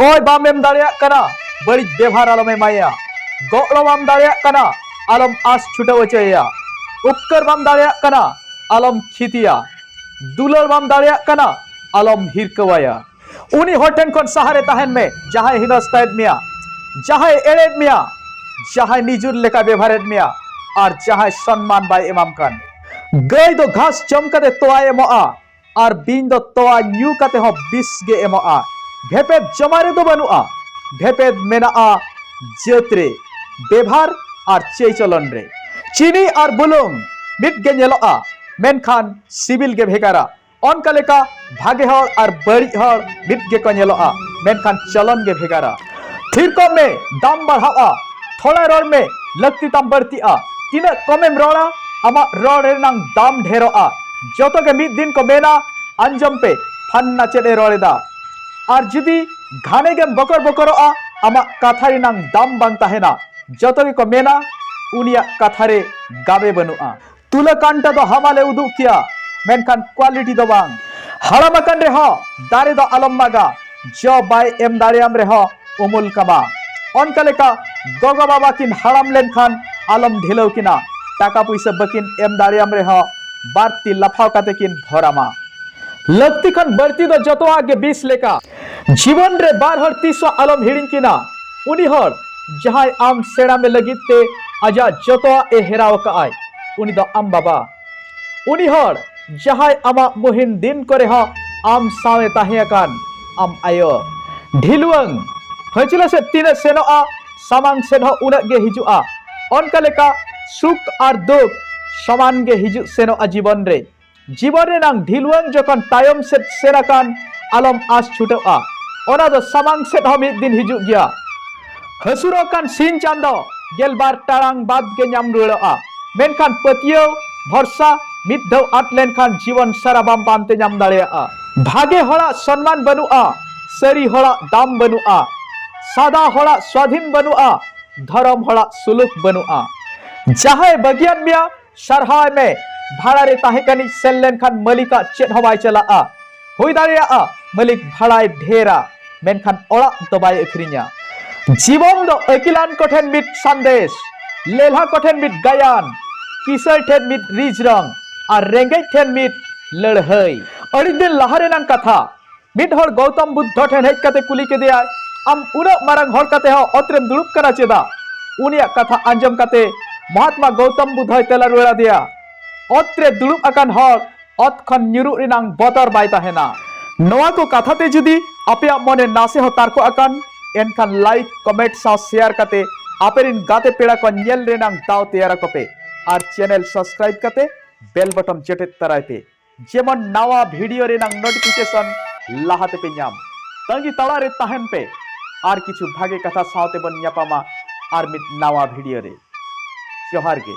ᱠᱚᱭ ᱵᱟᱢ ᱮᱢ ᱫᱟᱲᱮᱭᱟᱜ ᱠᱟᱱᱟ ᱵᱟᱹᱲᱤᱡ ᱵᱮᱵᱷᱟᱨ ᱟᱞᱚᱢ ᱮᱢᱟᱭᱟ ᱜᱚᱲᱚ ᱵᱟᱢ ᱫᱟᱲᱮᱭᱟᱜ ᱠᱟᱱᱟ ᱟᱞᱚᱢ ᱟᱥ ᱪᱷᱩᱴᱟᱹᱣ ᱦᱚᱪᱚᱭᱮᱭᱟ ᱩᱯᱠᱟᱹᱨ ᱵᱟᱢ ᱫᱟᱲᱮᱭᱟᱜ ᱠᱟᱱᱟ ᱟᱞᱚᱢ ᱠᱷᱤᱛᱤᱭᱟ ᱫᱩᱞᱟᱹᱲ ᱵᱟᱢ ᱫᱟᱲᱮᱭᱟᱜ ᱠᱟᱱᱟ ᱟᱞᱚᱢ ᱦᱤᱨᱠᱟᱹᱣᱟᱭᱟ ᱩᱱᱤ ᱦᱚᱲ ᱴᱷᱮᱱ ᱠᱷᱚᱱ ᱥᱟᱦᱟᱨᱮ ᱛᱟᱦᱮᱱ ᱢᱮ ᱡᱟᱦᱟᱸᱭ ᱦᱤᱱᱟᱹᱥᱛᱟᱭᱮᱫ ᱢᱮᱭᱟ ᱡᱟᱦᱟᱸᱭ ᱮᱲᱮᱫ ᱢᱮᱭᱟ ᱡᱟᱦᱟᱸᱭ ᱱᱤᱡᱩᱨ ᱞᱮᱠᱟ ᱵᱮᱵᱷᱟᱨᱮᱫ ᱢᱮᱭᱟ ᱟᱨ ᱡᱟᱦᱟᱸᱭ ᱥᱚᱱᱢᱟᱱ ᱵᱟᱭ ᱮᱢᱟᱢ ᱠᱟᱱ ᱜᱟᱹᱭ ᱫᱚ ᱜᱷᱟᱥ ᱡᱚᱢ ᱠᱟᱛᱮ ᱛᱚᱣᱟᱭ ᱮᱢᱚᱜᱼᱟ ᱟᱨ ᱵᱤᱧ ᱫᱚ ᱛᱚᱣᱟ ᱧᱩ ᱠᱟᱛᱮ ᱦᱚᱸ ᱵᱤᱥ ᱜᱮ ᱮᱢᱚᱜᱼᱟ ᱵᱷᱮᱯᱮᱫ ᱡᱚᱢᱟ ᱨᱮᱫᱚ ᱵᱟᱹᱱᱩᱜᱼᱟ ᱵᱷᱮᱯᱮᱫ ᱢᱮᱱᱟᱜᱼᱟ ᱡᱟᱹᱛ ᱨᱮ ᱵᱮᱵᱷᱟᱨ ᱟᱨ ᱪᱟᱹᱭ ᱪᱚᱞᱚᱱ ᱨᱮ ᱪᱤᱱᱤ ᱟᱨ ᱵᱩᱞᱩᱝ ᱢᱤᱫ ᱜᱮ ᱧᱮᱞᱚᱜᱼᱟ ᱢᱮᱱᱠᱷᱟᱱ ᱥᱤᱵᱤᱞ ᱜᱮ ᱵᱷᱮᱜᱟᱨᱟ ᱚᱱᱠᱟ ᱞᱮᱠᱟ ᱵᱷᱟᱜᱮ ᱦᱚᱲ ᱟᱨ ᱵᱟᱹᱲᱤᱡ ᱦᱚᱲ ᱢᱤᱫ ᱜᱮᱠᱚ ᱧᱮᱞᱚᱜᱼᱟ ᱢᱮᱱᱠᱷᱟᱱ ᱪᱚᱞᱚᱱ ᱜᱮ ᱵᱷᱮᱜᱟᱨᱟ ᱛᱷᱤᱨ ᱠᱚᱜ ᱢᱮ ᱫᱟᱢ ᱵᱟᱲᱦᱟᱜᱼᱟ ᱛᱷᱚᱲᱟ ᱨᱚᱲ ᱢᱮ ᱞᱟᱹᱠᱛᱤ ᱛᱟᱢ ᱵᱟᱹᱲᱛᱤᱜᱼᱟ ᱛᱤᱱᱟᱹᱜ ᱠᱚᱢᱮᱢ ᱨᱚᱲᱟ ᱟᱢᱟᱜ ᱨᱚᱲ ᱨᱮᱱᱟᱝ ᱫᱟᱢ ᱰᱷᱮᱨᱚᱜᱼᱟ ᱡᱚᱛᱚ ᱜᱮ ᱢᱤᱫ ᱫᱤᱱ ᱠᱚ ᱢᱮᱱᱟ ᱟᱸᱡᱚᱢ ᱯᱮ ᱯᱷᱟᱱᱱᱟ ᱪᱮᱫ ᱮ ᱨᱚᱲ ᱮᱫᱟ ᱟᱨ ᱡᱩᱫᱤ ᱜᱷᱟᱱᱮ ᱜᱮᱢ ᱵᱚᱠᱚᱨ ᱵᱚᱠᱚᱨᱚᱜᱼᱟ ᱟᱢᱟᱜ ᱠᱟᱛᱷᱟ ᱨᱮᱱᱟᱝ ᱫᱟᱢ ᱵᱟᱝ ᱛᱟᱦᱮᱱᱟ ᱡᱚᱛᱚ ᱜᱮᱠᱚ ᱢᱮᱱᱟ ᱩᱱᱤᱭᱟᱜ ᱠᱟᱛᱷᱟ ᱨᱮ ᱜᱟᱵᱮ ᱵᱟᱹᱱᱩᱜᱼᱟ ᱛᱩᱞᱟᱹᱠᱟᱱᱴᱟ ᱫᱚ ᱦᱟᱢᱟᱞᱮ ᱩᱫᱩᱜ ᱠᱮᱭᱟ ᱢᱮᱱᱠᱷᱟᱱ ᱠᱣᱟᱞᱤᱴᱤ ᱫᱚ ᱵᱟᱝ ᱦᱟᱲᱟᱢ ᱟᱠᱟᱱ ᱨᱮᱦᱚᱸ ᱫᱟᱨᱮ ᱫᱚ ᱟᱞᱚᱢ ᱢᱟᱜᱟ ᱡᱚ ᱵᱟᱭ ᱮᱢ ᱫᱟᱲᱮᱭᱟᱢ ᱨᱮᱦᱚᱸ ᱩᱢᱩᱞ ᱠᱟᱢᱟ ᱚᱱᱠᱟ ᱞᱮᱠᱟ ᱜᱚᱜᱚ ᱵᱟᱵᱟ ᱠᱤᱱ ᱦᱟᱲᱟᱢ ᱞᱮᱱᱠᱷᱟᱱ ᱟᱞᱚᱢ ᱰᱷᱤᱞᱟᱹᱣ ᱠᱤᱱᱟ ᱴᱟᱠᱟ ᱯᱩᱭᱥᱟᱹ ᱵᱟᱹᱠᱤᱱ ᱮᱢ ᱫᱟᱲᱮᱭᱟᱢ ᱨᱮᱦᱚᱸ ᱵᱟᱨᱛᱤ ᱞᱟᱯᱷᱟᱣ ᱠᱟᱛᱮ ᱠᱤᱱ ᱵᱷᱚᱨᱟᱢᱟ ᱞᱟᱹᱠᱛᱤ ᱠᱷᱚᱱ ᱵᱟᱹᱲᱛᱤ ᱫᱚ ᱡᱚᱛᱚᱣᱟᱜ ᱜᱮ ᱵᱤᱥ ᱞᱮᱠᱟ ᱡᱤᱵᱚᱱ ᱨᱮ ᱵᱟᱨ ᱦᱚᱲ ᱛᱤᱥ ᱦᱚᱸ ᱟᱞᱚᱢ ᱦᱤᱲᱤᱧ ᱠᱤᱱᱟ ᱩᱱᱤ ᱦᱚᱲ ᱡᱟᱦᱟᱸᱭ ᱟᱢ ᱥᱮᱬᱟ ᱢᱮ ᱞᱟᱹᱜᱤᱫ ᱛᱮ ᱟᱡᱟᱜ ᱡᱚᱛᱚᱣᱟᱜ ᱮ ᱦᱮᱨᱟᱣ ᱟᱠᱟᱫ ᱟᱭ ᱩᱱᱤ ᱫᱚ ᱟᱢ ᱵᱟᱵᱟ ᱩᱱᱤ ᱦᱚᱲ ᱡᱟᱦᱟᱸᱭ ᱟᱢᱟᱜ ᱢᱩᱦᱤᱢ ᱫᱤᱱ ᱠᱚᱨᱮ ᱦᱚᱸ ᱟᱢ ᱥᱟᱶ ᱮ ᱛᱟᱦᱮᱸ ᱟᱠᱟᱱ ᱟᱢ ᱟᱭᱳ ᱰᱷᱤᱞᱣᱟᱹᱝ ᱦᱟᱹᱡᱽᱞᱟᱹ ᱥᱮᱫ ᱛᱤᱱᱟᱹᱜ ᱥᱮᱱᱚᱜᱼᱟ ᱥᱟᱢᱟᱝ ᱥᱮᱫ ᱦᱚᱸ ᱩᱱᱟᱹᱜ ᱜᱮ ᱦᱤᱡᱩᱜᱼᱟ ᱚᱱᱠᱟ ᱞᱮᱠᱟ ᱥᱩᱠ ᱟᱨ ᱫᱩᱠ ᱥᱚᱢᱟᱱ ᱜᱮ ᱦᱤᱡᱩᱜ ᱥᱮᱱᱚᱜᱼᱟ ᱡᱤᱵᱚᱱ ᱨᱮ ᱡᱤᱵᱚᱱ ᱨᱮᱱᱟᱝ ᱰᱷᱤᱞᱣᱟᱹᱝ ᱡᱚᱠᱷᱚᱱ ᱛᱟᱭᱚᱢ ᱥᱮᱫ ᱥᱮᱱ ᱟᱠᱟᱱ ᱟᱞᱚᱢ ᱟᱥ ᱪᱷᱩᱴᱟᱹᱜᱼᱟ ᱚᱱᱟ ᱫᱚ ᱥᱟᱢᱟᱝ ᱥᱮᱫ ᱦᱚᱸ ᱢᱤᱫ ᱫᱤᱱ ᱦᱤᱡᱩᱜ ᱜᱮᱭᱟ ᱦᱟᱹᱥᱩᱨᱚᱜ ᱠᱟᱱ ᱥᱤᱧ ᱪᱟᱸᱫᱚ ᱜᱮᱞᱵᱟᱨ ᱴᱟᱲᱟᱝ ᱵᱟᱫᱽ ᱜᱮ ᱧᱟᱢ ᱨᱩᱣᱟᱹᱲᱚᱜᱼᱟ ᱢᱮᱱᱠᱷᱟᱱ ᱯᱟᱹᱛᱭᱟᱹᱣ ᱵᱷᱚᱨᱥᱟ ᱢᱤᱫ ᱫᱷᱟᱣ ᱟᱫ ᱞᱮᱱᱠᱷᱟᱱ ᱡᱤᱵᱚᱱ ᱥᱟᱨᱟ ᱵᱟᱢ ᱯᱟᱱᱛᱮ ᱧᱟᱢ ᱫᱟᱲᱮᱭᱟᱜᱼᱟ ᱵᱷᱟᱜᱮ ᱦᱚᱲᱟᱜ ᱥᱚᱱᱢᱟᱱ ᱵᱟᱹᱱᱩᱜᱼᱟ ᱥᱟᱹᱨᱤ ᱦᱚᱲᱟᱜ ᱫᱟᱢ ᱵᱟᱹᱱᱩᱜᱼᱟ ᱥᱟᱫᱟ ᱦᱚᱲᱟᱜ ᱥᱣᱟᱫᱷᱤᱱ ᱵᱟᱹᱱᱩᱜᱼᱟ ᱫᱷᱚᱨᱚᱢ ᱦᱚᱲᱟᱜ ᱥᱩᱞᱩᱠ ᱵᱟᱹᱱᱩᱜᱼᱟ ᱡᱟᱦᱟᱸᱭ ᱵᱟᱹᱜᱤᱭᱟᱫ ᱢᱮᱭᱟ ᱥᱟᱨᱦᱟᱣ ᱢᱮ ᱵᱷᱟᱲᱟ ᱨᱮ ᱛᱟᱦᱮᱸ ᱠᱟᱹᱱᱤᱡ ᱥᱮᱱ ᱞᱮᱱᱠᱷᱟᱱ ᱢᱟᱹᱞᱤᱠᱟᱜ ᱪᱮᱫ ᱦᱚᱸ ᱵᱟᱭ ᱪᱟᱞᱟᱜᱼᱟ ᱦᱩᱭ ᱫᱟᱲᱮᱭᱟᱜᱼᱟ ᱢᱟᱹᱞᱤᱠ ᱵᱷᱟᱲᱟᱭ ᱰᱷᱮᱨᱟ ᱢᱮᱱᱠᱷᱟᱱ ᱚᱲᱟᱜ ᱫᱚ ᱵᱟᱭ ᱟᱹᱠᱷᱨᱤᱧᱟ ᱡᱤᱵᱚᱱ ᱫᱚ ᱟᱹᱠᱤᱞᱟᱱ ᱠᱚᱴᱷᱮᱱ ᱢᱤᱫ ᱥᱟᱸᱫᱮᱥ ᱞᱮᱞᱦᱟ ᱠᱚᱴᱷᱮᱱ ᱢᱤᱫ ᱜᱟᱭᱟᱱ ᱠᱤᱥᱟᱹᱬ ᱴᱷᱮᱱ ᱢᱤᱫ ᱨᱤᱡᱽ ᱨᱚᱝ ᱟᱨ ᱨᱮᱸᱜᱮᱡ ᱴᱷᱮᱱ ᱢᱤᱫ ᱞᱟᱹᱲᱦᱟᱹᱭ ᱟᱹᱰᱤ ᱫᱤᱱ ᱞᱟᱦᱟ ᱨᱮᱱᱟᱝ ᱠᱟᱛᱷᱟ ᱢᱤᱫ ᱦᱚᱲ ᱜᱚᱣᱛᱚᱢ ᱵᱩᱫᱽᱫᱷᱚ ᱴᱷᱮᱱ ᱦᱮᱡ ᱠᱟᱛᱮ ᱠᱩᱞᱤ ᱠᱮᱫᱮᱭᱟ ᱟᱢ ᱩᱱᱟᱹᱜ ᱢᱟᱨᱟᱝ ᱦᱚᱲ ᱠᱟᱛᱮ ᱦᱚᱸ ᱚᱛ ᱨᱮᱢ ᱫᱩᱲᱩᱵ ᱠᱟᱱᱟ ᱪᱮᱫᱟᱜ ᱩᱱᱤᱭᱟᱜ ᱠᱟᱛᱷᱟ ᱟᱸᱡᱚᱢ ᱠᱟᱛᱮ ᱢᱚᱦᱟᱛᱢᱟ ᱜᱚᱣᱛᱚᱢ ᱵᱩᱫᱽᱫᱷᱚᱭ ᱛᱮᱞᱟ ᱨᱩᱣᱟᱹᱲ ᱟᱫᱮᱭᱟ ᱚᱛ ᱨᱮ ᱫᱩᱲᱩᱵ ᱟᱠᱟᱱ ᱦᱚᱲ ᱚᱛ ᱠᱷᱚᱱ ᱧᱩᱨᱩᱜ ᱨᱮᱱᱟᱝ ᱵᱚᱛᱚᱨ ᱵᱟᱭ ᱛᱟᱦᱮᱱᱟ ᱱᱚᱣᱟ ᱠᱚ ᱠᱟᱛᱷᱟ ᱛᱮ ᱡᱩᱫᱤ ᱟᱯᱮᱭᱟᱜ ᱢᱚᱱᱮ ᱱᱟᱥᱮ ᱦᱚᱸ ᱛᱟᱨᱠᱚ ᱟᱠᱟᱱ ᱮᱱᱠᱷᱟᱱ ᱞᱟᱭᱤᱠ ᱠᱚᱢᱮᱱᱴ ᱥᱟᱶ ᱥᱮᱭᱟᱨ ᱠᱟᱛᱮ ᱟᱯᱮ ᱨᱮᱱ ᱜᱟᱛᱮ ᱯᱮᱲᱟ ᱠᱚ ᱧᱮᱞ ᱨᱮᱱᱟᱝ ᱫᱟᱣ ᱛᱮᱭᱟᱨ ᱟᱠᱚ ᱯᱮ ᱟᱨ ᱪᱮᱱᱮᱞ ᱥᱟᱵᱥᱠᱨᱟᱭᱤᱵ ᱠᱟᱛᱮ ᱵᱮᱞ ᱵᱚᱴᱚᱱ ᱡᱚᱴᱮᱫ ᱛᱟᱨᱟᱭ ᱯᱮ ᱡᱮᱢᱚᱱ ᱱᱟᱣᱟ ᱵᱷᱤᱰᱤᱭᱳ ᱨᱮᱱᱟᱜ ᱱᱳᱴᱤᱯᱷᱤᱠᱮᱥᱚᱱ ᱞᱟᱦᱟ ᱛᱮᱯᱮ ᱧᱟᱢ ᱛᱟᱺᱜᱤ ᱛᱟᱲᱟ ᱨᱮ ᱛᱟᱦᱮᱱ ᱯᱮ ᱟᱨ ᱠᱤᱪᱷᱩ ᱵᱷᱟᱜᱮ ᱠᱟᱛᱷᱟ ᱥᱟᱶᱛᱮ ᱵᱚᱱ ᱧᱟᱯᱟᱢᱟ ᱟᱨ ᱢᱤᱫ ᱱᱟᱣᱟ ᱵᱷᱤᱰᱤᱭᱳ ᱨᱮ ᱡᱚᱦᱟᱨ ᱜᱮ